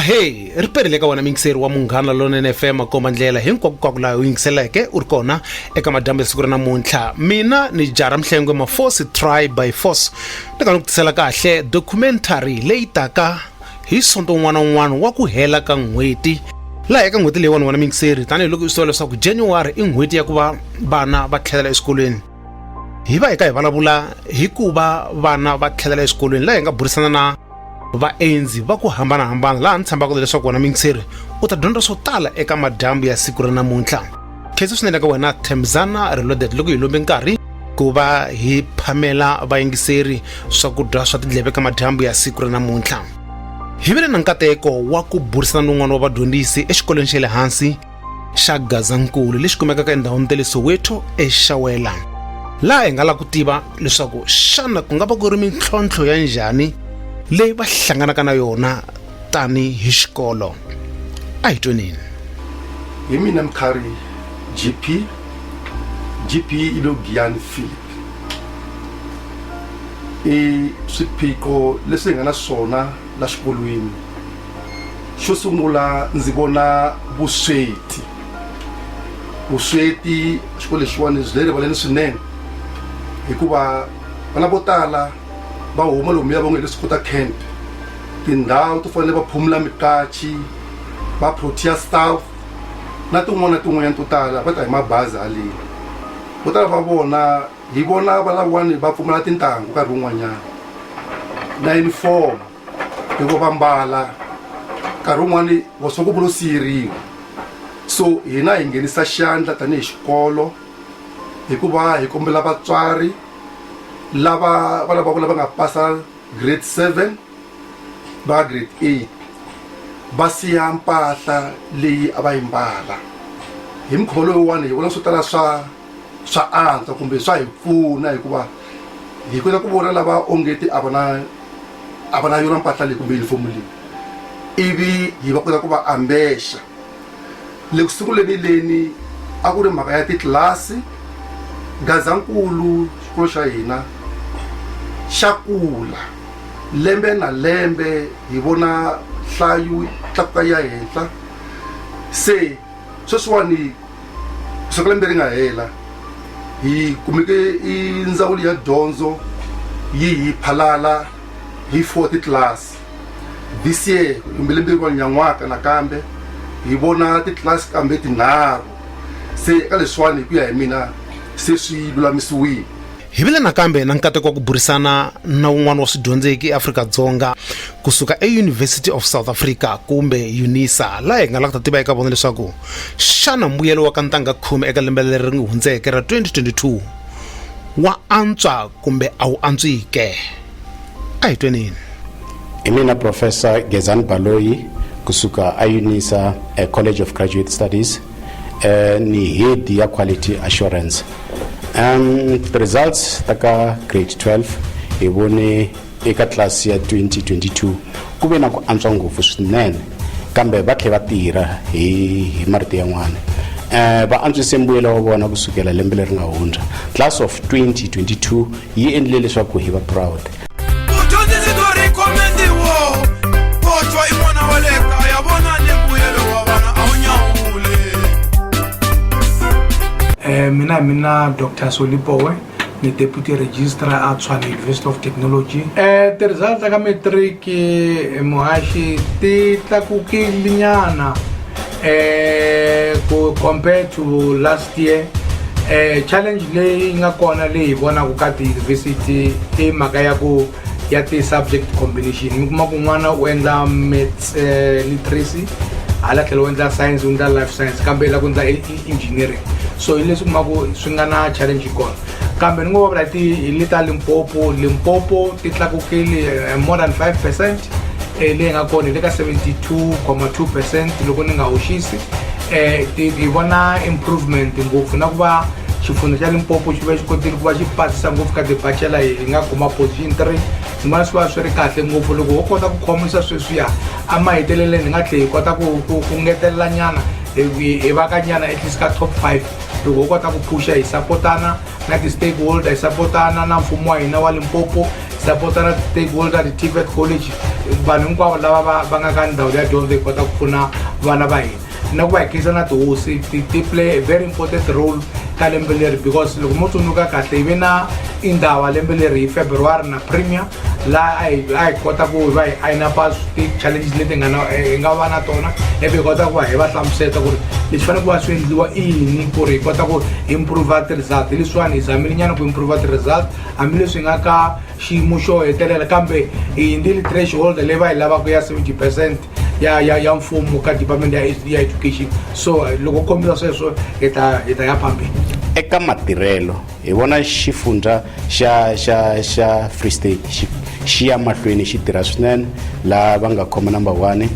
ahee ri perile ka wona mingiseri wa munghana lonene fm makomba ndlela hinkwakunkwaku laha u yingiseleke u ri kona eka madyambu ya siku ra namuntlha mina ni jara mhlengwe mafosi try by force ni ka ni ku tisela kahle documentary leyi taka hi sonto un'wana na un'wana wa ku hela ka n'hweti laha eka n'hweti leyiwani wena mingiseri tanihiloko i swi tiva leswaku january i n'hweti ya ku va vana va tlhelela exikolweni hi va hi ka hi vulavula hi ku va vana va tlhelela exikolweni laha hi nga burisana na vaendzi va ku hambanahambana laha ni tshembaka leswaku wena mingiseri u ta dyondza swo tala eka madyambu ya siku ra namuntlha khetsa swinene ka wena themzana reloaded loko hi lombe nkarhi ku va hi phamela vayingiseri swakudya swa tindleve ka madyambu ya siku ra namuntlha hi vile na nkateko wa ku burisana ni un'wana wa vadyondzisi exikolweni xa le hansi xa gazankulu lexi kumekaka endhawini ta le soweto exawela laha hi nga la ku tiva leswaku xana ku nga va ku ri mintlhontlho ya njhani leyi va hlanganaka na yona tani hi xikolo a hi twenini hi mina mkhari gp gp i lo giyani philip i swiphiqo leswi hi nga na swona la xikolweni xo sungula ndzi vona vusweti vusweti xikolo lexiwani byi le rivaleni swinene hikuva vana vo tala va huma lomuya va nge leswi kota camp tindhawu to fanele va phumula mikachi va protea staff na tin'wana na tin'wanyana to tala va ta hi mabazi haleni vo tala va vona hi vona va lavawani va pfumala tintangu nkarhi wun'wanyana na uniform loko va mbala nkarhi wun'wani wa swa ku vulo siyeriwa so hina hi nghenisa xandla tanihi xikolo hikuva hi kombela vatswari lava vana va vona va nga pasa grade seven va grade eight va siya mpahla leyi a va yi mbala hi mukhuva lowuwani hi vona swo tala swa swa antswa kumbe swa hi pfuna hikuva hi kota ku vona lava ongeti a va na a va na yona mpahla leyi kumbe yunifomu leyi ivi hi va kota ku va ambexa le ku sunguleni leni a ku ri mhaka ya titlilasi gazankulu xikolo xa hina xa kula lembe na lembe hi vona hlayo tlakuka ya henhla se sweswiwani swaku lembe ri nga hela hi kumeke i ndzawulo ya dyondzo yi hi phalala hi four titlilasi this year kumbe lembe rin'wana nyan'waka nakambe hi vona titlasi kambe tinharhu se eka leswiwani hi ku ya hi mina se swi lulamisiwile hi vile nakambe na nkateko wa ku burisana na un'wana wa swidyondzeki eafrika-dzonga kusuka euniversity of south africa kumbe unisa laha hi nga lava ku ta tiva eka vona leswaku xana mbuyelo wa ka ntanga khume eka lembe leri ri hundzeke ra 2022 wa antswa kumbe a wu antswike a hi twenini hi mina professor gezani baloyi kusuka eunisa eh, college of graduate studies eh, ni head ya quality assurance um, the results ta ka grade 12 hi vone eka class ya 2022 ku ve na ku antswa ngopfu swinene kambe va tlhe va tirha hi, hi marito yan'wana um va antswise mbuyelo wa vona kusukela lembe leri nga hundza class of 2022 yi endlile leswaku hi va proud eh, mina mina dr solipowe ni deputy registrar a tshwane university of technology eh ti-result ka matric eh, muhaxi ti tlakukilinyana eh ku compare to last year eh challenge leyi nga kona leyi vonaku ka ti university i mhaka ya ku ya ti subject combination mi kuma ku n'wana u endla maths eh, literacy hala tlhela u endla science u endla life science kambe la ku endla engineering so hi leswi kumaku swi nga na challenge kona kambe ni ngo vula ti hi le ta limpopo limpopo ti tlakukile eh, more than 5 percent eh, leyi nga kona hi le ka 72,2 percent loko ni nga hoxisi eh, ti hi vona improvement ngopfu na ku va xifundzha xa limpopo xi va xi kotile ku va xi pasisa ngopfu ka debachela hi nga kuma position 3 ni vona swi va swi ri kahle ngopfu loko ho kota ku khomisa sweswiya emaheteleleni hi nga tlhe hi kota ku ngetelela nyana hi va ka nyana at least ka top 5 loko ho kota ku phuxa hi sapotana na ti-stakeholder hi sapotana na mfumo wa hina wa limpopo hi sapotana ti-stakeholder ti-tvet college vanhu hinkwavo lava va nga ka ndhawu ya dyondzo hi kota ku pfuna vana va hina na ku va hi khensa na tihosi ti play a very important role ka lembe leri because loko mo tsundzuka kahle hi ve na indhawa lembe leri hi february na premier laha a hi a hi kota ku va hi ayina pa ti-challenges leti nga na hi nga va na tona ivi hi kota ku va hi va hlamuseta ku ri leswi fanele ku va swi endliwa i yini ku ri hi kota ku improve ti-result hi leswiwani hi zamile nyana ku improve ti-result hambileswi hi nga ka xiyimo xo hetelela kambe hi hindzi litration holder leyi va yi lavaka ya seventy percent ya ya ya mfumo ka department ya ya education so eh, loko kombisa sweswo hi ta hi ta ya phambili eka matirhelo hi vona xifundza xa xa xa free state xi xi ya mahlweni xi tirha swinene laha va nga khoma number one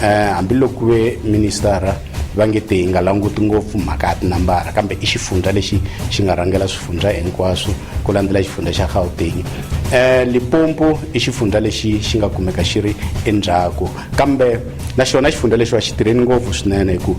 eh hambiloko ku ve ministara va nge te hi nga languti ngopfu mhaka ya tinambara kambe i xifundza lexi xi nga rhangela swifundza hinkwaswo ku landzela xifundzha xa gauteng um limpopo i xifundzha lexi xi nga kumeka xi ri endzhaku kambe na xona xifundzha lexiwa xi tirheni ngopfu swinene hi ku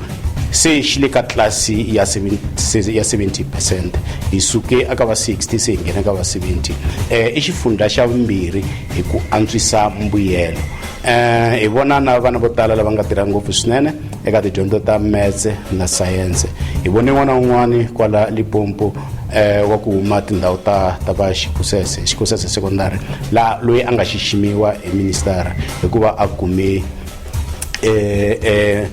se xi le ka tlasi ya 70 percent hi suke aka va 60 se hi nghena ka va 70 um eh, i xifundzha xa vumbirhi hi ku antswisa mbuyelo um hi vona na vana vo tala lava nga tirha ngopfu swinene Eka tidyondzo ta metse na sayense, hi vone n'wana wun'wana kwala Limpopo eh, wa ku huma tindhawu ta, ta va Xikusese, Xikusese Secondary, la loyi a nga xiximiwa hi ministara hikuva a kume eh, eh,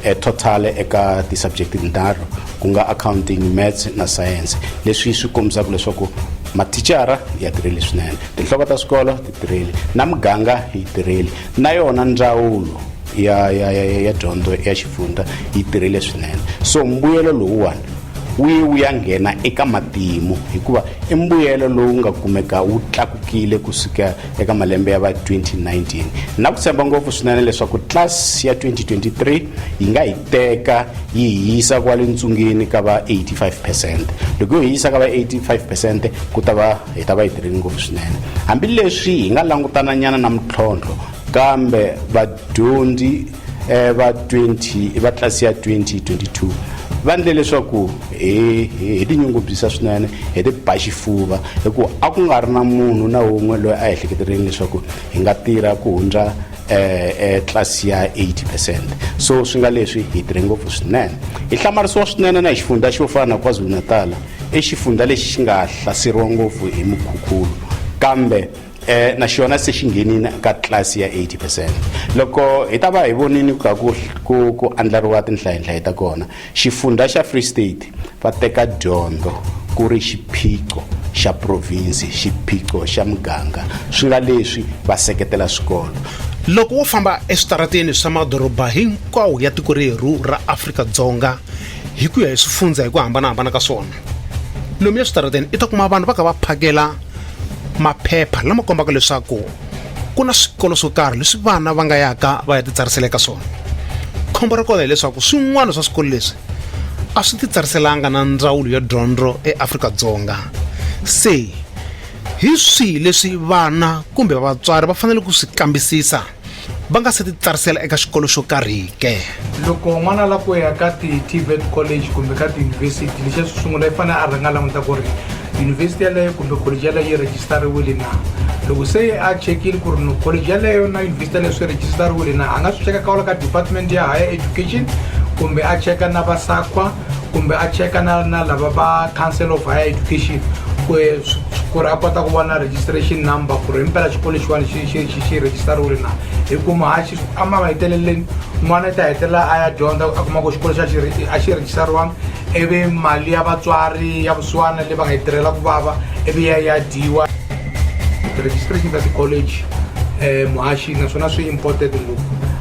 eh, total eka ti-subject tinharhu ku nga accounting maths na science leswi swi kombisaka leswaku mathicara ya tirheli swinene tinhloko ta swikolo ti tirheli na muganga yi tirheli na yona ndzawulo ya ya ya ya dyondzo ya xifundza yi tirhile swinene so mbuyelo lowuwani wu ye wu ya nghena eka matimu hikuva i mbuyelo lowu nga kumeka wu tlakukile ku suka eka malembe ya va 2019 na ku tshemba ngopfu swinene leswaku tlasi ya 2023 yi nga yi teka yi hisa kwale ntsungeni ka va 85 percent loko yo hisa ka va 85 percent ku ta va hi ta va yi tirhile ngopfu swinene hambileswi hi nga langutananyana na mintlhontlho kambe vadyondzi eh, va 20 va tlasi ya 2022 va ndle leswaku hi hi- hi tinyungubyisa swinene hi ti ba xifuva hikuva a ku nga ri na munhu na wun'we loyi a ehleketeleni leswaku hi nga tirha ku hundza eh, eh, tlasi ya 80 percent so swi nga leswi hi tirhe ngopfu swinene hi hlamarisiwa swinene na hi xifundza xo fana na kwazulu-natala i xifundza lexi xi nga hlaseriwa ngopfu hi mukhukhulu kambe eh, na xona se xi nghenini ka tlilasi ya 80 percent loko hi ta va hi vonini ka ku, ku, ku andlariwa tinhlayenhlaye ta kona xifundza xa free state va teka dyondzo ku ri xiphiqo xa provinsi xiphiqo xa muganga swi nga leswi va seketela swikolo loko wo famba eswitarateni swa madoroba hinkwawo ya tiko rerhu ra afrika-dzonga hi ku ya hi swifundzha hi ku hambanahambana ka swona lomu eswitarateni i ta kuma vanhu va ka va phakela maphepha lama kombaka leswaku ku na swikolo swo karhi leswi vana va nga yaka va ya titsarisela eka swona khombo ra kona hileswaku swin'wana swa swikolo leswi a swi titsariselanga na ndzawulo ya dyondzo eafrika-dzonga se hi swihi leswi vana kumbe vatswari va fanele ku swi kambisisa va nga se titsarisela eka xikolo xo karhi ke loko n'wana la ku ya ka ti-tvet college kumbe ka tiyunivhesiti lexi swi sungula i fanele a rhanga languta ku ri yunivhesiti yaleyo kumbe college yaleyo yi rejistariwile na loko se a chekile ku ri no college yaleyo na yunivhesiti yaleyo swi rejistariwile na a nga swi cheka kawula ka department ya higher education kumbe a cheka na vasaqwa kumbe a cheka na na lava va council of higher education ku ku ri a kota ku va na registration number ku ri himpela xikolo xiwani xi xi xi xi register-riwile na hi kuma ha xi a ma heteleleni n'wana i ta hetelela a ya dyondza a kuma ku xikolo xa xi a xi register-riwanga ivi mali ya vatswari ya vusiwana leyi va nga yi tirhela ku vava ivi ya ya dyiwa registration ta ti-college um muhaxi naswona swi important ngopfu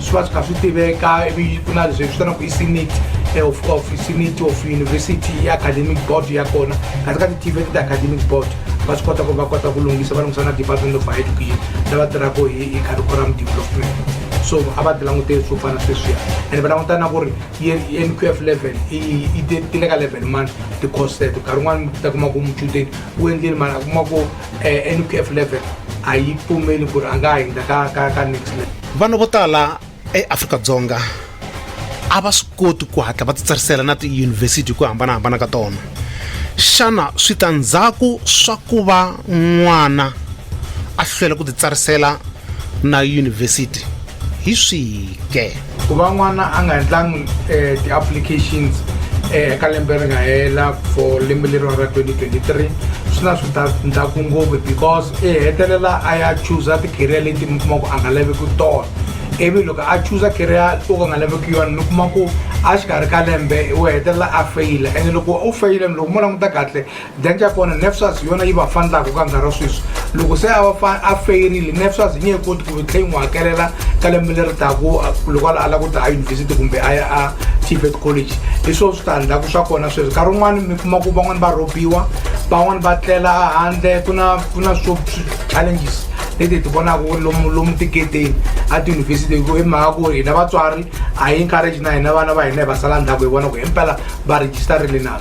swi va swi kha swi tiveka ivi ku na leswi vitanaku i senate eh, of of senate of university i academic board ya kona kasi ka ti-tv ti ti-academic board va swi kota ku va kota ku lunghisa va lunghisa na department of high education lava tirhaka hi hi curriculum development so a va ti languteli swo fana sweswiya and va languta na ku ri nqf level i ti le ka level mani ti-course teto nkarhi un'wana mi ta kuma ku muchudeni u endleni mani a kuma ku eh, nqf 11 a yi pfumeli ku ri a nga hundza ka ka ka next level vanhu vo tala eafrika-dzonga a va swi koti ku hatla va titsarisela na tiyunivhesiti hi ku hambanahambana ka tona xana switandzhaku swa ku va n'wana a hlwela ku titsarisela na yunivhesiti hi swihi ke ku va n'wana a nga endlangi eh, ti-applications eh, eka lembe ri nga hela for lembe leriwa ra 2023 swi na switandzhaku ngopfu because i hetelela a ya chuza ti-career leti mi kuma ku a nga laveki tona ivi loko a chuza career to ka nga laveki yona mi kuma ku a xikarhi ka lembe u hetelela a feyila ene loko u feyile loko mo languta kahle dyandza ya kona nefsas yona yi va fanelaka ka nkarhi wa sweswi loko se a va a feyirile nefsas yi nge he koti ku tlhe yi n'wi hakelela ka lembe leri taku loko a lava ku ta a yunivhesiti kumbe a ya a tibet college hi swona switandzhaku swa kona sweswi nkarhi wun'wana mi kuma ku van'wani va rhobiwa van'wani va tlela handle ku na ku na swo challenges leti hi ti vonaka lomu lomu tiketeni a tiyunivhesiti hi ku hi mhaka ku hina vatswari a yi encourage na hina vana va hina hi va sala ndzhaku hi vona ku himpela va registarile na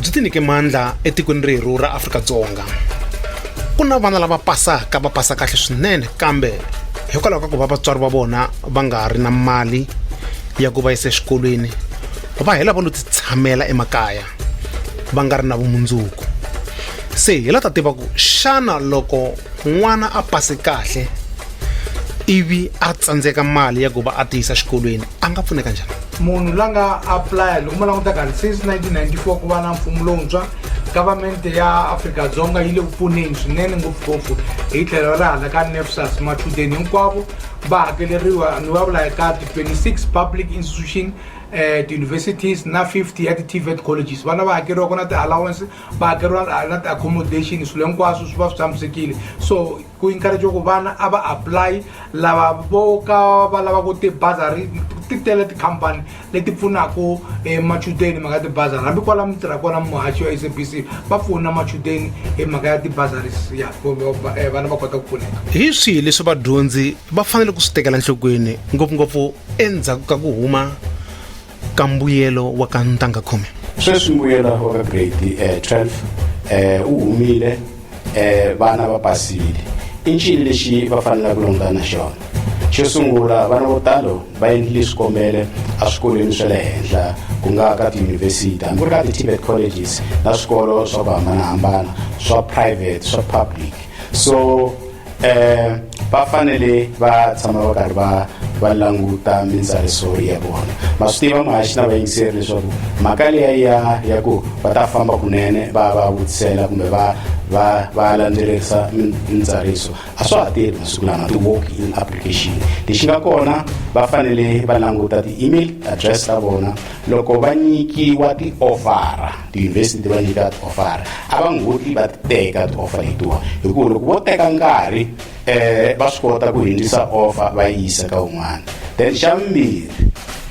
byi tinyike mandla etikweni rerhu ra afrika-dzonga ku na vana lava pasaka va pasa kahle swinene kambe hikwalaho ka ku va vatswari va vona va nga ri na mali ya ku va yisa exikolweni va hela va lo titshamela emakaya va nga ri na vumundzuku se hi la ta tiva ku xana loko n'wana a pasi kahle ivi a tsandzeka mali ya ku va a ti yisa xikolweni a nga pfuneka njhani munhu la nga aplaya loko mo languta kahle since 1994 ku va na mfumo lowuntshwa government ya afrika-dzonga yi le ku pfuneni swinene ngopfungopfu hi tlhelo ra hala ka nefsas machudeni hinkwavo va hakeleriwa ni va vula ka ti-26 public institution um eh, ti-universities na 50 ya ti-tvet colleges vana va hakeriwa ku na ti-allowance va hakeriwa na ti-accommodation swilo hinkwaswo swi va swi tshamisekile so ku encourage ku vana a va apply lava vo ka va lavaka tibazari ti tele tikhampani leti pfunaka eh, machudeni mhaka ya tibazari hambi kwala mi tirha kona muhaxi wa sabc va pfuna machudeni hi mhaka ya tibazaris ya eh, vana va kota ku pfuneka hi swihi leswi vadyondzi va fanele ku swi tekela nhlokweni ngopfungopfu endzhaku ka ku huma ka mbuyelo wa ka ntanga khume sweswi mbuyelo wa ka grade eh, 12 eh, u humile eh, vana va pasile i ncini lexi va fanelaka ku langutana na xona xo sungula vana vo talo va endlile swikombelo eswikolweni swa le henhla ku nga ka tiyunivhesiti hambi ku ri ka ti-tibet colleges na swikolo swa ku hambanahambana swa private swa public so eh va fanele va tshama va karhi va va languta mintsariso ya vona ma swi tiva mahaxi na vayingiseri leswaku mhaka leya ya ya ku va ta famba kunene va va vutisela kumbe va va va landzelerisa mintsariso a swa ha tirhi masiku lama ti-walk in application lexi nga kona va fanele va languta ti-email address ta vona loko va nyikiwa ti-ovhara tiyunivhesiti ti va nyika tiofara a va ngoti va teka tioffa letiwa hikuva loko vo teka nkarhi um va swi kota ku hindzisa offa va yi yisa ka un'wana then xa vumbirhi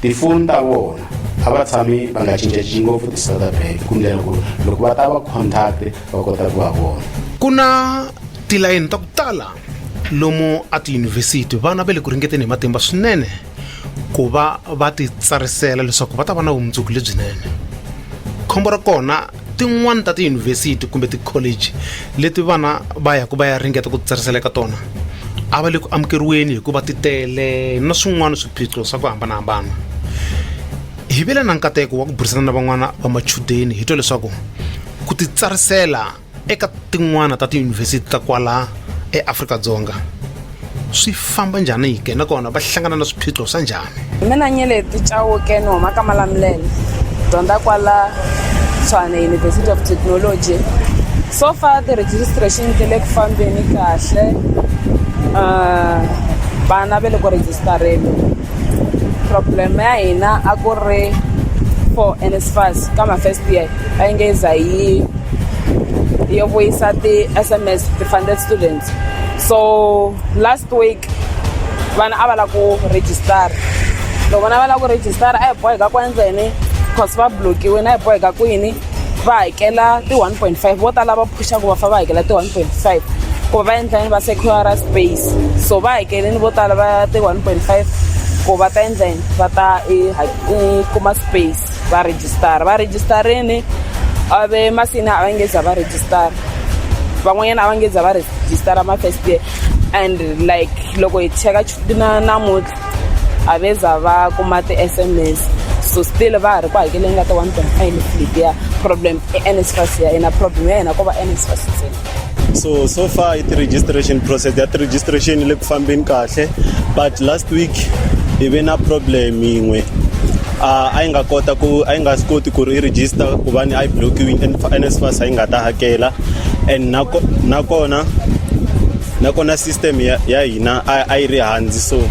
tifoni ta vona a va tshami va nga cincacinci ngopfu ti-south bank ku ndlela ku loko va ta va contact va kota ku va vona ku na tilayini ta ku tala lomu a tiyunivhesiti vana va le ku ringeteni hi matimba swinene ku va va titsarisela leswaku va ta va na vumundzuku lebyinene khombo ra kona tin'wani ta tiyunivhesiti kumbe tikholeji leti vana va yaku va ya ringeta ku titsarisela eka tona a va le ku amukeriweni hikuva ti tele na swin'wana swiphiqo swa ku hambanahambana hi vile na nkateko wa ku burisana na van'wana va machudeni hi twa leswaku ku titsarisela eka tin'wana ta tiyunivhesiti ta kwala eAfrika-Dzonga swi famba njhani yike nakona va hlangana na swiphiqo swa njhani mina nyeleti chauke ni huma ka malamulele dyondza kwala tshwane university of technology so far ti-registration ti le ku fambeni kahle um vana ve le ku register-eni problem ya hina a ku ri for NSFAS ka ma first year va nge za yi yo vuyisa ti-S_M_S ti-funded students so last week vana a va lava ku register loko vana va lava ku register a hi boheka ku endla yini cause va block-iwini a hi boheka ku yini. va hakela ti-one point five vo tala va phuxaka va fa va hakela ti-one point five ku va endla yini va secura space so va hakelini vo tala va ti-one point five ku va ta endla yini va ta e, e, kuma space va rejistara va rejistarini a ve masini a va nge za va rejistara van'wanyana a va nge za va rejistara ma-first year and like loko hi cheka na namuntlha a ve za va kuma ti-sms so still va ha ri ku hakeleni ka ti-one point five lip ya problem i nsfas ya yena problem ya yena ko va nsfas ntsena so so far i-registration process ya ti-registration le ku fambeni kahle but last week hi ve na problem yin'we a yi nga kota ku a yi nga swi koti ku ri i register ku va ni a yi blokiwini nsfas a yi nga ta hakela and nakona nakona system ya, ya hina a, a yi ri hanzi so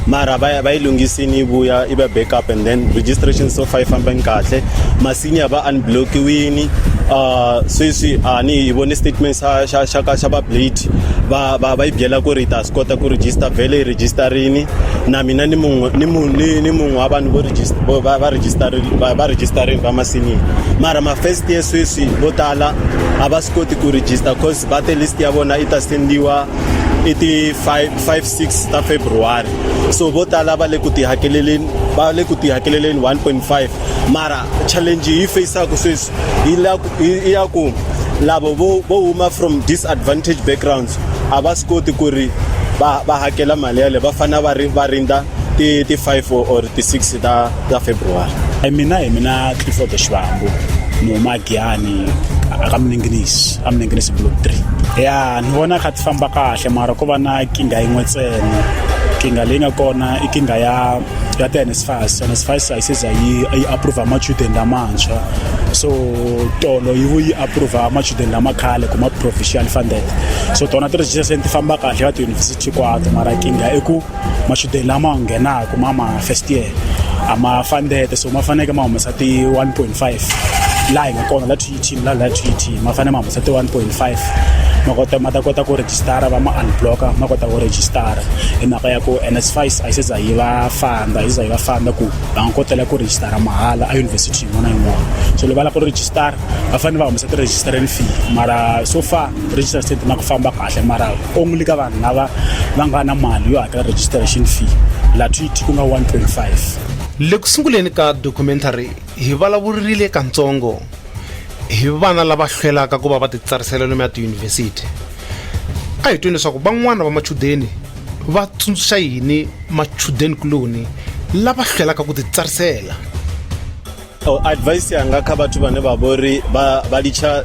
mara va yi lunghisini yi vuya yi va backup and then registration so far yi fambeni kahle masinya va unblockiwini uh, sweswi a ni hi vone statement xa xa xa ka xa va blade va va va yi byela ku ri ta swi kota ku register vhele yi registerini na mina ni munhu ni munhu ni ni munhu wa vanhu vo register vo va va register va va registerini va masinya mara ma first year sweswi vo tala a va swi koti ku register cause Bate list ya vona yi ta sendiwa i ti 56 ta february so vo tala va le ku tihakeleleni va le ku tihakeleleni 1.5 mara challenge yi faceaku sweswi yi ya ku lavo vo huma from disadvantage backgrounds a va swi koti ku ri va va hakela mali yale va fanele va ri va rindza ti ti 5 or ti 6 ta ta february mina hi mina clifford xivambu ni huma giyani aka miningilisi a mi nge block three ya ni vona kha ti famba kahle mara ko va na kinga yin'we ntsena kinga leyi nga kona i kinga ya ya ti-nsfas nsfas a yi seza yi yi approva machudeni lamantshwa so tolo yi vu yi approva machudeni lama khale ku ma provincial funded so tona ti-registration ti famba kahle ka tiyunivhesiti kwato mara kinga i ku machudeni lama nghenaka ma ma first year a ma funded so ma faneleke ma humesa ti-1 point five laha hi nga kona la team la la TT ma fane ma humesa ti 1.5 ma kota ma ta kota ku register va ma unblocker ma kota ku register hi mhaka ya ku NSFAS a yi se za yi va fanda yi za yi va fanda ku va nga kotela ku register mahala a university yin'wana yin'wana so loko va lava ku register va fanele va humesa ti-registering fee mara so far register state na ku famba kahle mara only ka vanhu lava va nga na mali yo hakela registration fee la TT ku nga 1.5 le ku sunguleni ka documentary hi vulavurile kantsongo hi vana lava hlwelaka ku va va titsarisela lomu ya tiyunivhesiti a hi tweni leswaku van'wana va machudeni va tsundzuxa yini machudeni kuloni lava hlwelaka ku titsarisela advice yanga kha vhathu vhane vha vhori vha litsha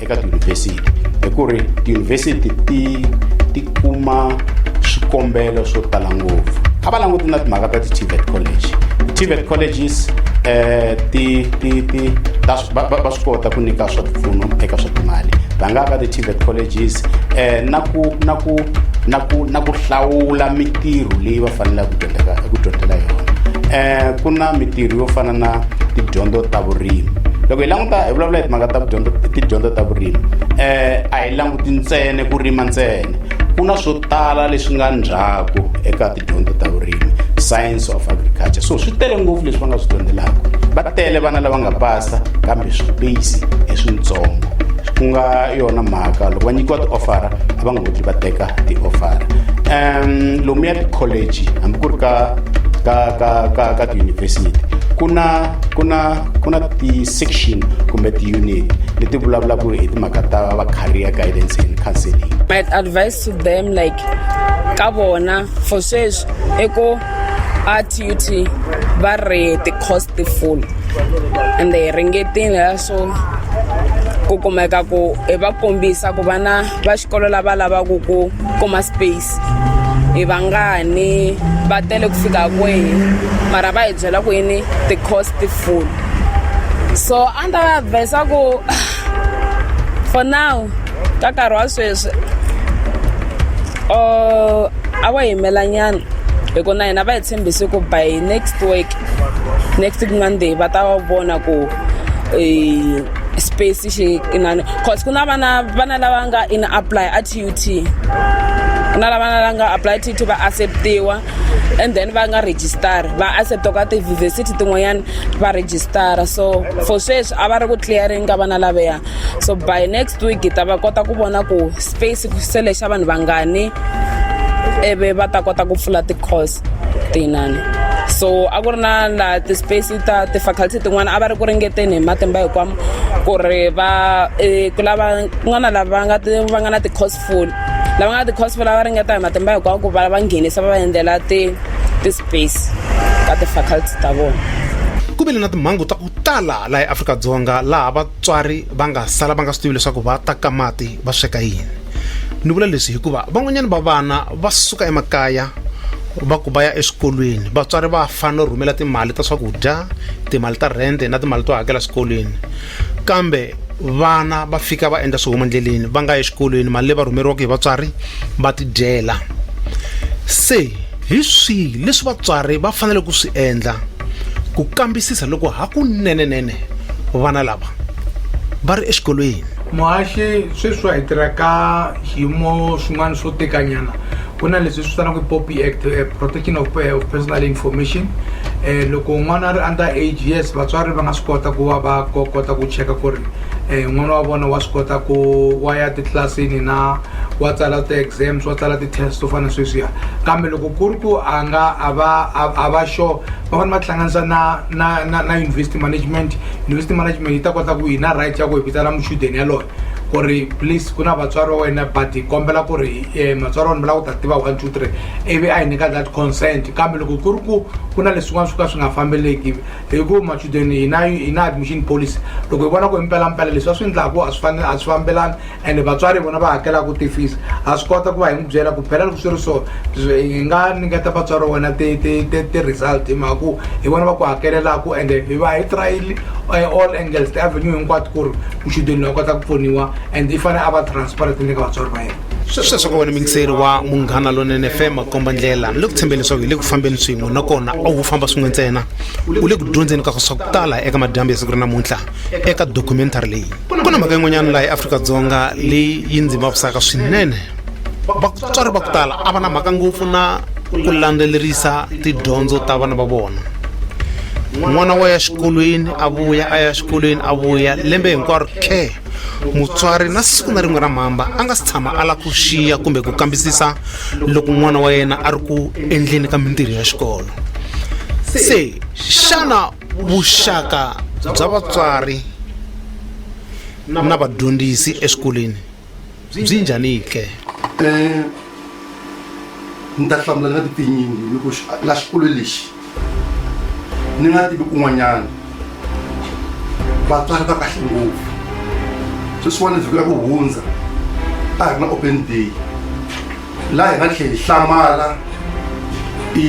eka tiyunivhesiti hi ku ri tiyunivhesiti ti ti kuma swikombelo swo tala ngopfu a va languti na timhaka ta ti-tvet college ti-tvet colleges eh ti ti ti ta va va- va swi kota ku nyika swa tipfuno eka swa timali va nga ka ti-tvet colleges eh na ku na ku na ku na ku hlawula mitirho leyi va faneleke ku dyondzela ku dyondzela yona eh ku na mitirho yo fana na tidyondzo ta vurimi loko hi languta hi vulavula hi timhaka ta ku dyondza i tidyondzo ta vurimi um a hi languti ntsene ku rima ntsene ku na swo tala leswi nga ndzhaku eka tidyondzo ta vurimi science of agriculture so swi tele ngopfu leswi va nga swi dyondzelaka va tele vana lava nga pasa kambe swipeyisi i swintsongo ku nga yona mhaka loko va nyikiwa ti-offera a va nga koti va teka ti-offera um lomu ya ti-college hambi ku ri ka ka ka ka ka tiyunivhesiti ku na ku na ku na ti-section kumbe ti-unit leti vulavulaka hi timhaka ta va-career guidance and counseling my advice to them like ka vona for sweswi i ku a tut va ri ti-costful and they ringetile so ku kumeka ku hi va kombisa ku vana va xikolo lava lavaka ku kuma space i vangani va tele ku fika kwihi mara va hi byela ku yini ti-cost full so a ni ta va advisa ku for now ka nkarhi wa sweswi or a va yimelanyana hi ku na hina va hi tshembise ku by next week next week monday va ta va vona ku um space xi inani cause ku na vana vana lava nga in apply a tut ku na lavana la nga apply tut va acceptiwa and then va nga register va accepta ka tiyunivhesiti tin'wanyana va register so for sweswi a va ri ku clearing ka vana laveya so by next week hi ta va kota ku vona ku space se lexa vanhu vangani ivi va ta kota ku pfula ti-course tinani so a ku ri na laha ti-space ta ti-faculty tin'wana a va ri ku ringeteni hi matimba hikwamo ku ri va eh, ku lava kun'wana lava va nga ti- va nga na ti-cosful lava nga na ti-cosful a va ringeta hi matimba hikwamo ku va va nghenisa va va endlela ti- ti-space ka ti-faculty ta vona ku vile na timhangu ta ku tala laha eafrika-dzonga laha vatswari va nga sala va nga swi tivi leswaku va ta ka mati va sweka yini ni vula leswi hikuva van'wanyana va vana va suka emakaya va ku va ya eswikolweni vatswari va fanele no rhumela timali ta swakudya timali ta rhende na timali to hakela swikolweni kambe vana va fika va endla swihomo endleleni va nga ya exikolweni mali leyi va rhumeriwaka hi vatswari va tidyela se hi swihi leswi vatswari va fanele ku swi endla ku kambisisa loko hakunenenene vana lava va ri exikolweni Muhaxi, sweswi hi tirha ka xiyimo swin'wana swo tikanyana ku na leswi swi vitanaku poppy act protection of personal information um loko n'wana a ri under age yes vatswari va nga swi kota ku va va kota ku cheka ku ri um n'wana wa vona wa swi kota ku wa ya titlilasini na wa tsala ti-exams wa tsala ti-test to fana sweswiya kambe loko ku ri ku a nga a va a va sure va fane va tihlanganisa na. na na na university management university management yi ta kota ku yi na right ya ku hi vitana muchudeni yaloye ku ri please ku na vatswari wa wena but hi kombela ku ri um matswari wena mi lava ku ta tiva one two three ivi a hi nyika that consent kambe loko ku ri ku ku na leswin'wana swo ka swi nga fambeleki hi ku machudeni hi na hi na admission policy loko hi vona ku hi mpelampela leswi a swi endlaku a swi a swi fambelani ende vatswari vona va hakelaka tifisi ha swi kota ku va hi n'wi byela ku phela loko swi ri so hi nga nyiketa vatswari wa wena ti-result hi mhaka ku hi vona va ku hakelelaku ende hi va hi trayile eh, all angles ti-avenue hinkwato ku ri muchudeni loyi a kota ku pfuniwa and i fanele a va transparent ni le ka vatswari va yena sweswo ka wena mingiseri wa munghana lonene fema komba ndlela ni le ku tshembeni leswaku hi le ku fambeni swin'we nakona a wu famba swin'we ntsena u le ku dyondzeni ka swa ku tala eka madyambu ya siku ra namuntlha eka documentary leyi ku na mhaka yin'wanyana laha eafrika-dzonga leyi yi ndzi vavisaka swinene vatswari va ku tala a va na mhaka ngopfu na ku landzelerisa tidyondzo ta vana va vona n'wana wa ya xikolweni a vuya a ya xikolweni a vuya lembe hinkwaro khe mutswari na siku na rin'we ra mhamba a nga si tshama a lava ku xiya kumbe ku kambisisa loko n'wana wa yena a ri ku endleni ka mintirho ya xikolo se xana vuxaka bya vatswari na vadyondzisi eswikolweni byi njhani ke um ni ta hlamula ni nga ti tinyingi ni ku la xikolo lexi ni nga tivi kun'wanyana vatswari va kahle ngopfu sweswiwani vhiki ra ku hundza a hi ri na open day laha hi nga tlhela hi hlamala i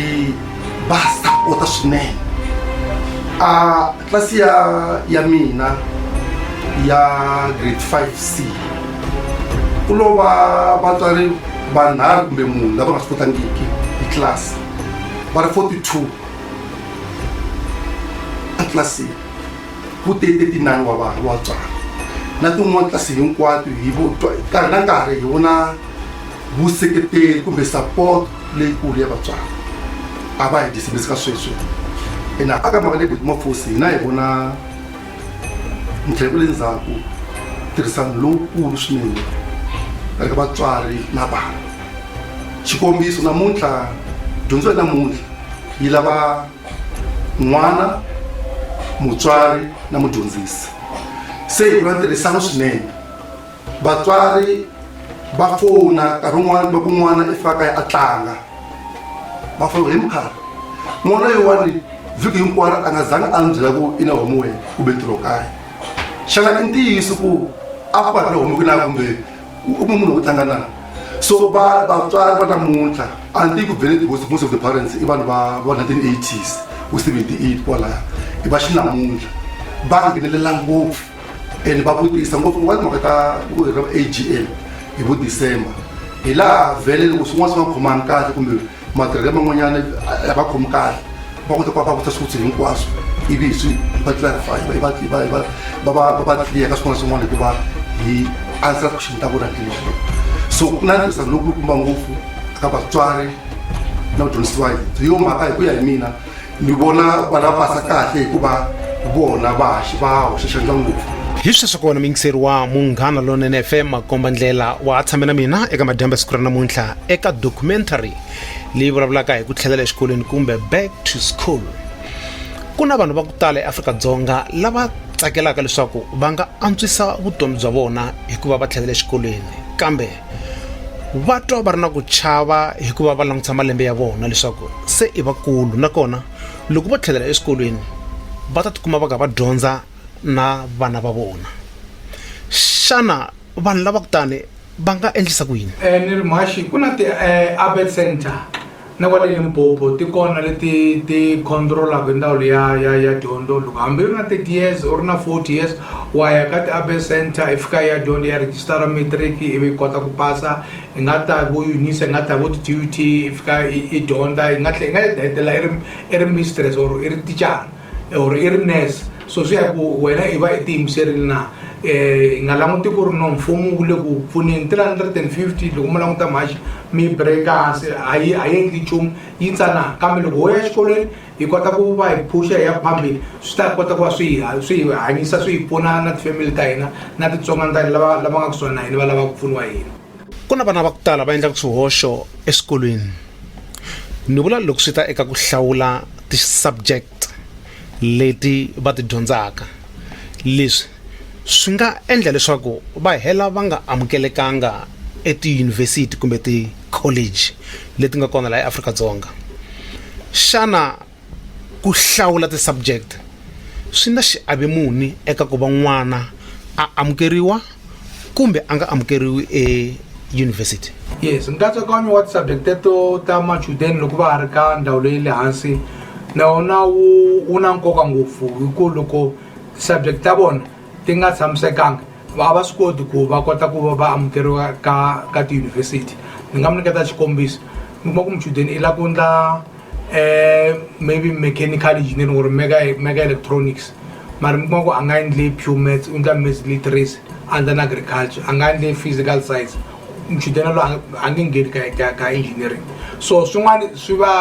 va sapota swinene a tlasi ya ya mina ya grade five c ku lo va vatswari vanharhu kumbe munhu lava nga swi kotangiki hi tlasi va ri forty two etlilasini ku tete tinani wa vanhu wa tswala na tin'wana tlasi hinkwato hi nkarhi na nkarhi hi vona vuseketeri kumbe support leyikulu ya vatswari a va hi dyisibisi ka sweswi ene a ka mhaka leyi beti mafosi hina hi vona ndlela ku le ndzhaku tirhisano lowukulu swinene eka vatswari na vana xikombiso namuntlha dyondzo ya namuntlha yi lava n'wana mutswari na mudyondzisi se hi va ntirhisano swinene vatswari va fona nkarhi un'wana loko n'wana i faka ya a tlanga va fona hi mukharhi n'wana yin'wani vhiki hinkwaro a nga zangi a ni byela ku i na homu wena kumbe ntirho kaya xana i ntiyiso ku a ku va ri na homu ku na kumbe u kuma munhu wo tlanga na so va vatswari va namuntlha a ni ku bele because most of the parents i vanhu va va 1980s ku 78 kwalaya i va xinamuntlha va nghenelela ngopfu and va vutisa ngopfu wa timhaka ta ku agm hi vo december hi laha vhele loko swin'wana swi nga khomangi kahle kumbe matirhelo man'wanyana a va khomi kahle va kota ku va vutisa swivutso hinkwaswo ivi hi swi hi va clarify hi va hi va hi va va va va va clear ka swin'wana na swin'wana hikuva hi answer question ta vona hi ndlela yaleyo so ku na ntirhisano lokulukumba ngopfu ka vatswari na vadyondzisiwa hi yo mhaka hi ku ya hi mina ni vona va lava fasa kahle hikuva vona va va hoxa xandla ngopfu hi sweswi kona muyingiseri wa munghana lonene fm makomba ndlela wa ha tshame na mina eka madyambe siku ra namuntlha eka documentary leyi vulavulaka hi ku tlhelela exikolweni kumbe back to school ku na vanhu va ku tala eafrika-dzonga lava tsakelaka leswaku va nga antswisa vutomi bya vona hikuva va tlhelela exikolweni kambe va twa va ri na ku chava hikuva va langutisa malembe ya vona leswaku se i vakulu nakona loko vo tlhelela eswikolweni va ta tikuma va ka va dyondza na vana va vona xana vanhu lava kutani va nga endlisa ku yini eh, ni ri mhaxi ku na ti-abet eh, center na kwale Limpopo ti kona leti ti controlaka hi ndawulo ya ya ya dyondzo loko hambi ri na 30 years or na 40 years wa ya ka ti-urban center i fika ya dyondzo ya register matric ivi kota ku pasa i nga ta vo unisa i nga ta vo ti-dut i fika i dyondza i nga tlhe i nga hetelela i ri i ri mistress or i ri tichara or i ri nurse so swi ya hi ku wena i va i tiyimiserile na um hi nga languti ku ri no mfumo wu le ku pfuneni three hundred and fifty loko mi languta mhaxi mi breka hansi a yi a yi endli nchumu yi tsanana kambe loko ho ya exikolweni hi kota ku va hi phuxa hi ya phambili swi ta kota ku va swi hi swi hi hanyisa swi hi pfuna na tifamily ta hina na titsongwana ta hina lava lava nga kusuhani na hina va lava ku pfuniwa hina ku na vana va ku tala va endlaka swihoxo eswikolweni ni vula loko swi ta eka ku hlawula ti-subject leti va ti dyondzaka leswi swi nga endla leswaku va hela va nga amukelekanga etiyunivhesiti kumbe ti-college leti nga kona laha eAfrika-Dzonga xana Ku hlawula ti-subject swi na xiave muni eka ku va n'wana a amukeriwa kumbe a nga amukeriwi eyunivhesiti? Yes, nkatsakanyo wa ti-subject teto ta machudeni loko va ha ri ka ndhawu leyi le hansi na wona wu wu na nkoka ngopfu hi ku loko ti-subject ta vona ti nga tshamisekanga a va swi koti ku va kota ku va va amukeriwa ka ka tiyunivhesiti ni nga mi nyiketa xikombiso mi kuma ku muchudeni i la ku ndla. eh maybe mechanical engineering or mega mega electronics mara mi kuma ku a nga endle pure maths u endla maths literacy a endla na agriculture a nga endle physical science muchudeni lo a nge ngheni ka ka ka engineering so swin'wana swi va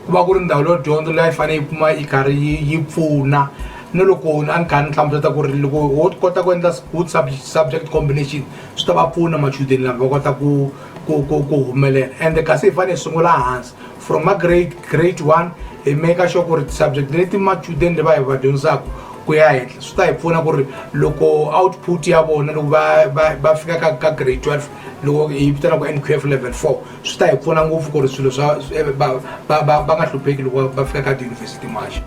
ku va ku ri ndhawu leyo dyondzo leyi a yi fanele yi kuma yi karhi yi yi pfuna ni loko a ni kha ni hlamuseta ku ri loko wo kota ku endla good subject combination swi ta va pfuna machudeni lama va kota ku ku ku ku humelela ende kasi hi fanele hi sungula hansi from magrade grade one hi maker sure ku ri ti-subject leti machudeni va hi va dyondzisaka ku ya henhla swi ta hi pfuna ku ri loko output ya vona loko va va va fika ka ka grade twelve loko hi vitana ku n q f level four swi ta hi pfuna ngopfu ku ri swilo swa va va va va nga hlupheki loko va fika ka tiyunivhesiti maxa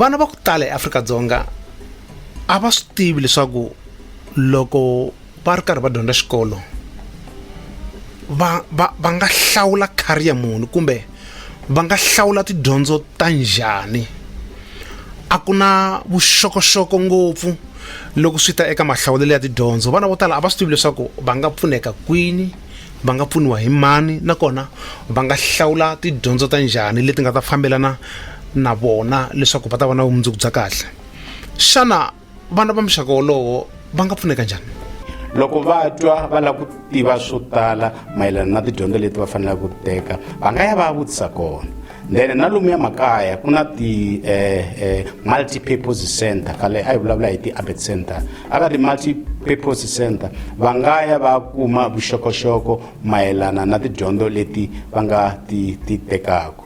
vana va ku tala eafrika dzonga a va swi tivi leswaku loko va ri karhi va dyondza xikolo va va va nga hlawula career muni kumbe va nga hlawula tidyondzo ta njhani a ku na vuxokoxoko ngopfu loko swi ta eka mahlawulelo ya tidyondzo vana vo tala a va swi tivi leswaku va nga pfuneka kwini va nga pfuniwa hi mani nakona va nga hlawula tidyondzo ta njhani leti nga ta fambelana na vona leswaku va ta va na vumundzuku bya kahle xana vana va muxaka wolowo va nga pfuneka njhani loko va twa va lava ku tiva swo tala mayelana na tidyondzo leti va faneleke ku teka va nga ya va ya vutisa kona then na lomuya makaya ku na ti eh, eh, multi-purpose center khale a yi vulavula hi ti-abet center a ka ti-multi-purpose center va nga ya va kuma vuxokoxoko mayelana na tidyondzo leti va nga ti ti tekaka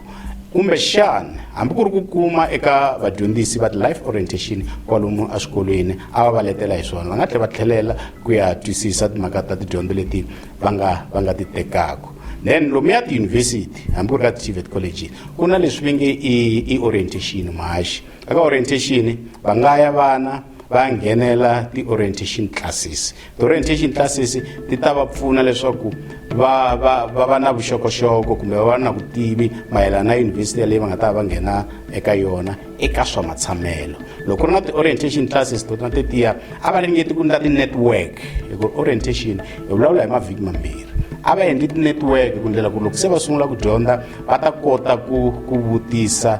kumbe xana hambi ku ri ku kuma eka vadyondzisi va ti-life orientation kwalomu eswikolweni a va va letela hi swona va nga tlhela va tlhelela ku ya twisisa timhaka ta tidyondzo leti va nga va nga ti tekaka then lomuya tiyunivhesiti hambi ku ri ka ti-tvet college ku na leswi va nge i i orientation mahaxi eka orientation va nga ya vana va nghenela ti-orientation classes Orientation classes ti ta va pfuna leswaku va va va va na vuxokoxoko kumbe va va na vutivi mayelana na yunivhesiti yaleyi va nga ta va nghena eka yona eka swa matshamelo loko ri na ti-orientation classes tona tetiya a va ringeti ku endla ti-network hikuva orientation hi vulavula hi mavhiki mambirhi a va endli ti-network ku ndlela ku loko se va sungula ku dyondza va ta kota ku ku vutisa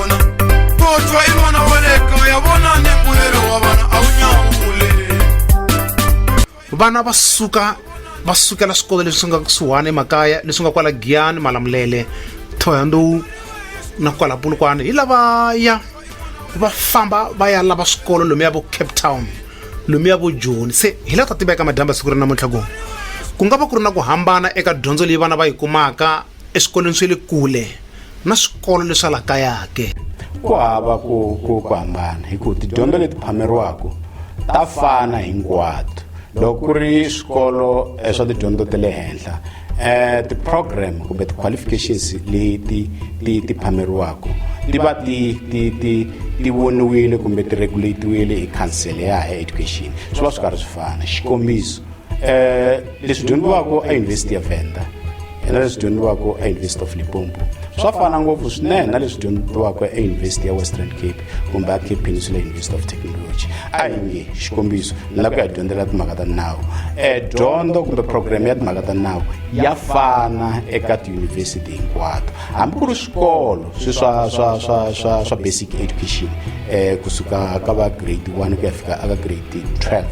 vona kotwa i n'wana wa le kaya vona ni mbuyelo wa vana a wu nyawule vana va suka va sukela swikolo leswi nga kusuhani emakaya leswi nga kwala giyani malamulele thoyandowu na kwala pulukwana hi lavaya va famba va ya lava swikolo lomu ya vo cape town lomu ya vo joni se hi la ta tiveka madyamba siku ri namuntlha ku ku nga va ku ri na ku hambana eka dyondzo leyi vana va yi kumaka eswikolweni swa le kule na swikolo leswa la kaya ke ku hava ku ku ku hambana hi ku tidyondzo leti phameriwaka ta fana hinkwato loko ku ri swikolo eh, swa tidyondzo ta le henhla eh ti-program kumbe ti-qualifications leti ti ti phameriwaka ti va ti ti ti ti voniwile kumbe ti regulatiwile hi council ya higher education swi va swi karhi swi fana xikombiso eh leswi dyondziwaka eUniversity of Venda na leswi dyondziwaka eUniversity of Limpopo swa fana ngopfu swinene na leswi dyondziwaka eUniversity ya Western Cape kumbe Cape Peninsula University of Technology a hi nge xikombiso ni la ku ya dyondzela timhaka ta nawu eh dyondzo kumbe program ya timhaka ta nawu ya fana eka tiyunivhesiti hinkwato hambi ku ri swikolo swi swa swa swa swa swa basic education eh kusuka ka va grade 1 ku ya fika aka grade 12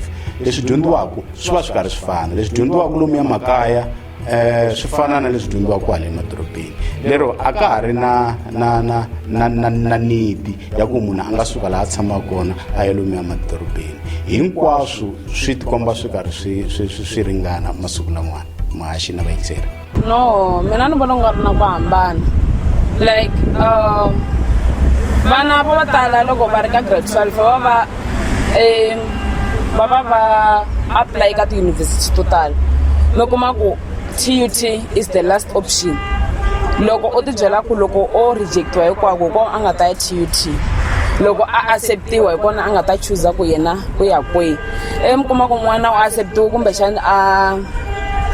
leswi dyondziwaka swi va swi karhi swi fana leswi dyondziwaka lomu ya makaya eh swi fana na leswi dyondziwaka kwale emadorobeni lero a ka ha ri na na na na na na nidi ya ku munhu a nga suka laha a tshamaka kona a ya lomu ya madorobeni hinkwaswo swi tikomba swi karhi swi swi swi swi ringana masiku lamwana mahaxi na vayingiseri no mina ni vona ku nga ri na ku hambana like um vana vo tala loko va ri ka grade twelve va va va um va va va apply ka tiyunivhesiti to tala mi kuma ku tut is the last option loko u tibyela ku loko o rejectiwa hinkwako ko a nga ta ya tut loko a acceptiwa hi kona a nga ta chuza ku yena u ya kwihi e mi kuma ku n'wana u acceptiwe kumbexani a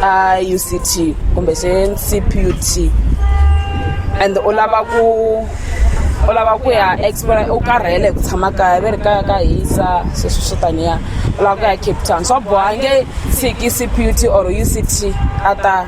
a u c t kumbe se c p u t and u lava ku u lava ku ya explore u karhele hi ku tshama kaya ve ri kaya ka hisa sweswi swo taniya u lava ku ya cape town swa boha nge tshiki c p u t or u c t a ta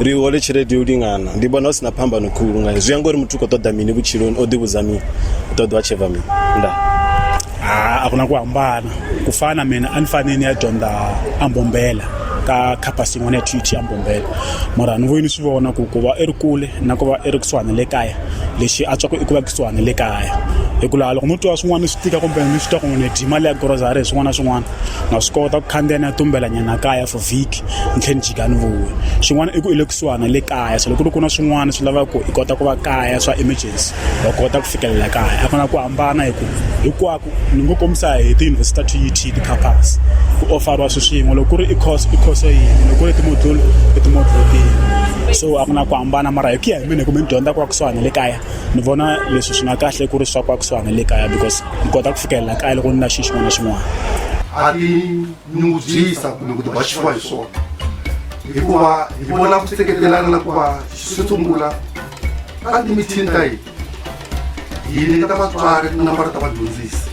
ri hole tshelede yo lingana ndi vhona hu si na phambano khulu ngayo zwi ya ngori muthu u khou ṱoḓa mini vhutshiloni o ḓivhudza mini u ṱoḓa a tsheva mini nda a ku na ku hambana ku fana mina a ni fane ni ya dyondza ambombela ka campus yin'wana ya tut ambombela mara ni vuye ni swi vona ku ku va i ri kule na ku va i ri kusuhani le kaya lexi a tswaku i ku va kusuhani le kaya hikuva loko no twa swin'wana swi tika kumbe ni swi twa ku n'wini dyi mali ya grocery hi swin'wana na swin'wana na swi kota ku khandziya ni ya tumbelanyana kaya for vhiki ni tlhela ni jika ni vuya xin'wana i ku i le kusuhana na le kaya so loko ku na swin'wana swi lava ku i kota ku va kaya swa emergency wa kota ku fikelela kaya a ku na ku hambana hi ku hinkwako ni ngo kombisa hi tiyunivhesiti ta TUT ti-campus ku ofariwa swi swin'we loko ku ri i course i course yini loko ku ri timodule i timodule tihi so a ku na ku hambana mara hi ku ya hi mina kumbe ni dyondza ku va kusuhana le kaya ni vona leswi swi nga kahle ku ri swa ku va kusuhana le kaya because ni kota ku fikelela kaya loko ni na xi xin'wana na xin'wana nyungubyisa kumbe ku tibaxiwa hi swona hikuva hi vona ku seketelana na ku va swi sungula ka timithini ta hina hi nyiketa vatswari tinambara ta vadyondzisi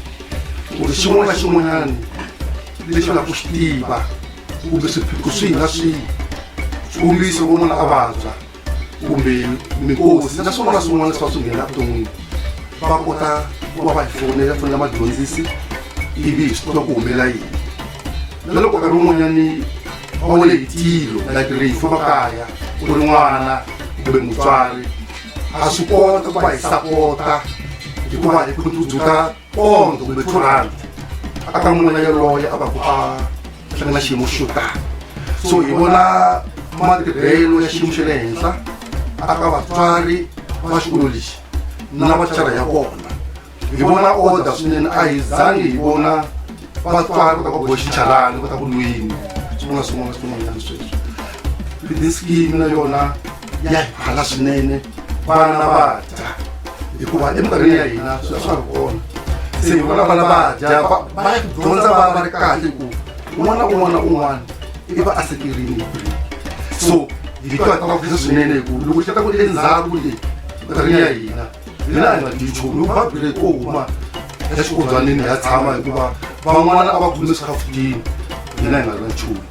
ku ri xin'wana na xin'wanyana lexi va lava ku xi tiva kumbe swiphiqo swihi na swihi xikombiso vo n'wana a vabya kumbe mikosi na swin'wana na swin'wana leswi va swi nghenela vuton'wini va kota ku va va hi fonela fonela madyondzisi ivi hi swi tiva ku humelela yini na loko nkarhi wun'wanyani va wele hi tilo like rifu makaya ku ri n'wana kumbe mutswari a swi kota ku va hi sapota hikuva hi ku ndzudzula pond kumbe two rand a ka n'wina yoloye a va ku a tlanga na xiyimo xo tani so hi vona matirhelo ya xiyimo xa le henhla a ka vatswari va xikolo lexi na vachara ya kona hi vona oda swinene a hi zangi hi vona vatswari kota ku boxichalani kota ku lwini swin'wana swin'wana swin'wanyana sweswi this game na yona ya hi phala swinene vana va dya hikuva eminkarhini ya hina swilo swa ri kona se hi vona vana va dya va dyondza va va ri kahle ku un'wana un'wana un'wana i va a sekerini hi kule so hi ka ta va khisa swinene hikuva loko xi ta ku endzhaku leyi minkarhini ya hina hina a hi nga dyi nchumu loko va bile ko huma exikolwanini ya tshama hikuva van'wana a va khumi swikhafutini hina hi nga ri na nchumu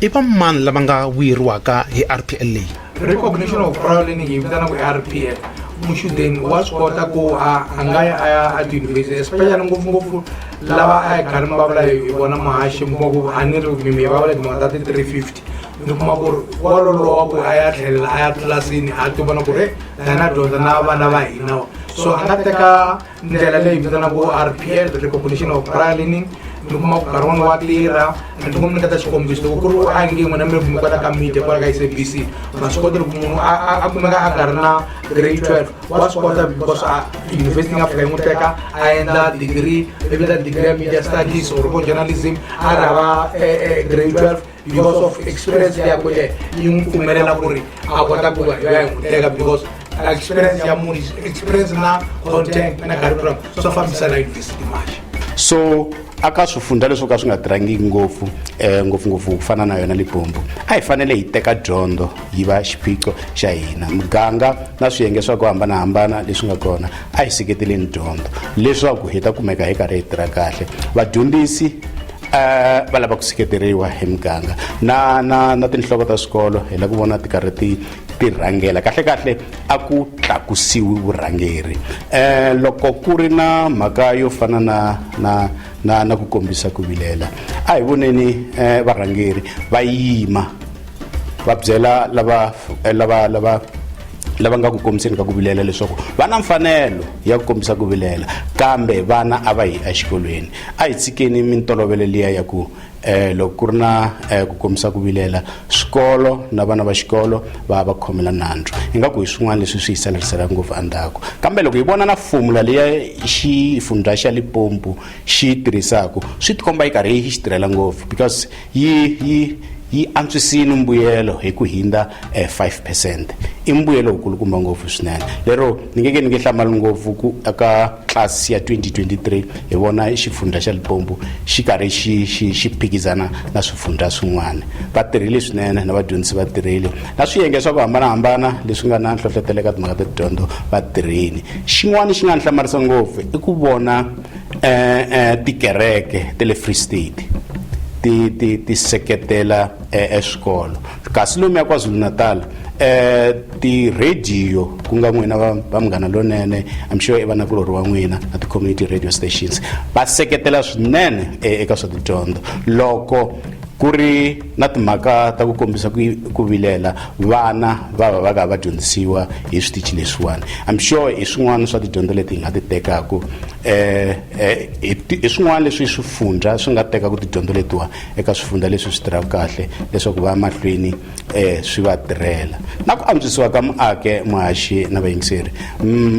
i va mani lava nga vuyeriwaka hi rpl leyi recognition of prior learning yi vitana ku rpl muchudeni wa swi kota ku a a nga ya a ya a tiyunivhesiti especially ngopfungopfu lava a yi karhi mi vulavula hi vona mahaxi mi kuma ku a ni ri mimi va vula timhaka ta ti-three fifty ni kuma ku ri wa lolowa ku a ya tlhelela a ya tlilasini a ti vona ku ri dana dyondza na vana va hina so a nga teka ndlela leyi vitanaku rpl repopulition of pralining ni kuma ku nkarhi wun'wana wa tirha ni ti n'wi nyiketa xikombiso loko ku ri u ange n'wina mi mi kota ka media kwala ka sabc ma swi kota loko munhu a kumeka a nga ri na grade twelve wa swi kota because a university nga fika yi n'wi teka a endla degree ivi ta degree ya media studies or ko journalism a ri hava eh, eh, grade twelve because of experience ya kule yi n'wi pfumelela ku ri a kota ku vanhu va yi n'wi teka because experience ya munhu experience na content na curriculum swo fambisana university maxa so aka swifundza leswo ka swi nga tirhangiki ngopfu um ngopfungopfu ku fana na yona libombo a hi fanele hi teka dyondzo yi va xiphiqo xa hina muganga na swiyenge swa ku hambanahambana leswi nga kona a hi seketeleni dyondzo leswaku hi ta kumeka hi karhi hi tirha kahle vadyondzisi Eh, va lava ku seketeriwa hi muganga na na na tinhloko ta swikolo hi la ku vona ti karhi ti ti rhangela kahle kahle a ku tlakusiwi vurhangeri eh loko ku ri na mhaka yo fana na na na na ku kombisa ku vilela a hi voneni eh varhangeri va yima va byela lava eh, lava lava lava nga ku kombiseni ka ku vilela leswaku va na mfanelo ya ku kombisa ku vilela kambe vana a va yi exikolweni A hi tshikeni mintolovelo liya ya ku eh, loko ku ri na eh, ku kombisa ku vilela swikolo na vana va xikolo va va khomela nandzu ingaku hi swin'wana leswi swi hi saleriselaka ngopfu endzhaku kambe loko hi vona na fomula leya xifundza xa lipompu xi tirhisaka swi tikomba yi karhi yi xi tirhela ngopfu because yi yi yi antswisile mbuyelo hi ku hindza eh, 5 percent i mbuyelo wu kulukumba ngopfu swinene lero ni ngeke ni nge hlamali ngopfu ku aka tlasi ya 2023 hi vona xifundza xa Limpopo xi karhi xi xi xi phikizana na swifundza swin'wana va tirhile swinene na vadyondzisi va tirhile na swiyenge swa ku hambanahambana leswi nga na nhlohlotelo eka timhaka ta tidyondzo va tirhile xin'wana xi nga ni hlamarisa ngopfu i ku vona eh, eh, tikereke te le free state ti ti ti seketela eh, eswikolo Kasi lomuya KwaZulu-Natal ti-radio ku nga n'wina va va Munghana Lonene I'm sure i vanakulorhi wa n'wina na ti-community radio stations va seketela swinene eka swa tidyondzo loko ku ri na timhaka ta ku kombisa ku ku vilela vana va va va ka va dyondzisiwa hi switichi leswiwani I'm sure hi swin'wana swa tidyondzo leti hi nga ti tekaku hi swin'wana leswi swifundza swi nga tekaku tidyondzo letiwani eka swifundza leswi swi tirhaka kahle leswaku va ya mahlweni um swi va tirhela na ku antswisiwa ka muake muhaxi na vayingiseri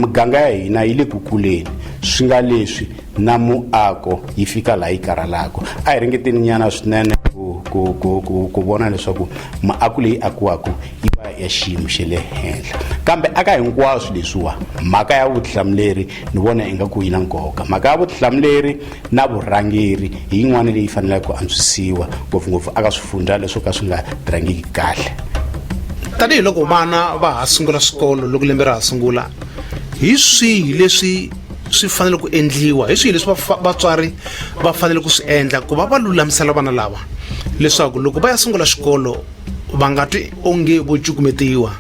miganga ya hina yi le ku kuleni swi nga leswi na muako yi fika laha yi karhalaka a hi ringeteni nyana swinene ku, ku, ku, ku, ku vona leswaku muako leyi akiwaka yi va ya xiyimo xa le henhla kambe aka hinkwaswo leswiwa mhaka ya vutihlamuleri ni vona ingaku yi na nkoka mhaka ya vutihlamuleri na vurhangeri hi yin'wana leyi faneleke ku antswisiwa ngopfungopfu aka swifundzha leswo ka swi nga tirhangiki kahle tanihi loko vana va ha sungula swikolo loko lembe ra ha sungula hi swihi leswi swi fanele ku endliwa hi swihi leswi vatswari va fanele ku swi endla ku va va lulamisela vana lava leswaku loko va ya sungula xikolo va nga twi onge vo cukumetiwa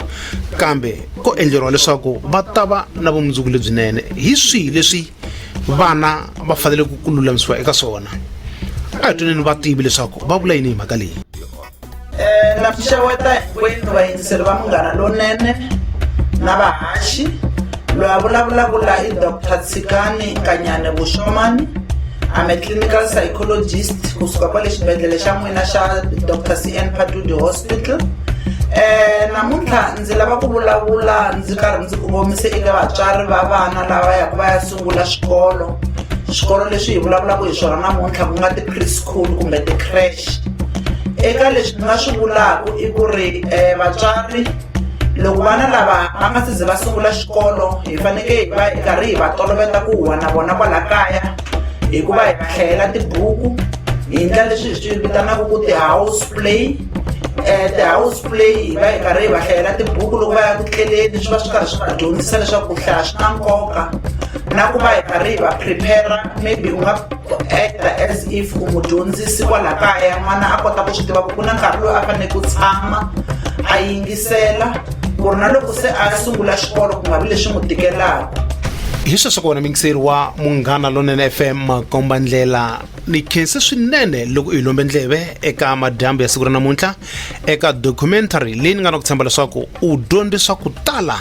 kambe ko endleriwa leswaku va ta va na vumundzuku lebyinene hi swihi leswi vana va fanele ku ku lulamisiwa eka swona a hi twaneni vativi leswaku va vula yini hi mhaka leyi um na pfuxeweta hinkwenu vayingiseri va munghana lonene na vahaxi loyi a vulavulaka la i dr tshikani nkanyane vuxomani I'm a clinical psychologist kusuka kwale xibedhlele xa n'wina xa Dr. CN Patudi Hospital. Eh namuntlha Ndzi lava ku vulavula ndzi karhi ndzi kongomise eka vatswari va vana lava yaka va ya sungula swikolo swikolo leswi hi vulavulaka hi swona namuntlha ku nga ti-preschool kumbe ti-crash eka leswi ni nga swi vulaka i ku ri um vatswari loko vana lava va nga si ze va sungula xikolo hi fanekele hi va hi karhi hi va toloveta ku huwa na vona kwala kaya hikuva hi va hlayela tibuku hi endla leswi hi swi vitanaka ku ti-house play um ti-house play va yi karhi hi va hlayela tibuku loko va ya ku tleleni swi va swi karhi swi va dyondzisa leswaku ku hlaya swi na nkoka na ku va hi karhi hi va prepare maybe u nga acta as if u mudyondzisi kwala kaya n'wana a kota ku swi tiva ku ku na nkarhi loyi a fanele ku tshama a yingisela ku ri na loko se a sungula xikolo ku nga vi leswi n'wi tikelaka hi sweswo kona mingiseri wa munghana lonene fm makombandlela ni khense swinene loko u hi lombe ndleve eka madyambu ya siku ra namuntlha eka documentary leyi ni nga na ku tshemba leswaku u dyondze swa ku tala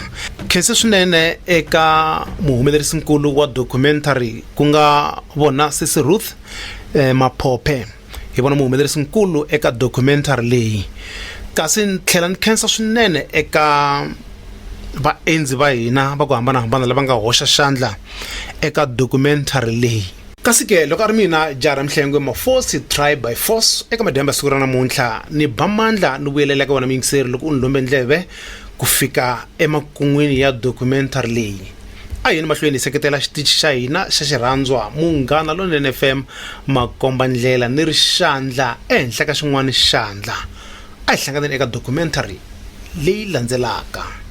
khense swinene eka muhumelerisinkulu wa documentary ku nga vona sisi ruth eh, maphophe hi vona muhumelerisinkulu eka documentary leyi kasi ni tlhela ni khensa swinene eka vaendzi va hina va ku hambanahambana lava nga hoxa xandla eka documentary leyi kasi ke loko a ri mina jaha ra mihlengwe mafosi try by force eka madyambe ya siku ra namuntlha ni ba mandla ni vuyelela eka wena muyingiseri loko u ni lombe ndleve ku fika emakun'wini ya documentary leyi a yini mahlweni hi seketela xitichi xa hina xa xirhandzwa munghana lonene fm makomba ndlela ni ri xandla ehenhla ka xin'wana xandla a hi hlanganeni eka documentary leyi landzelaka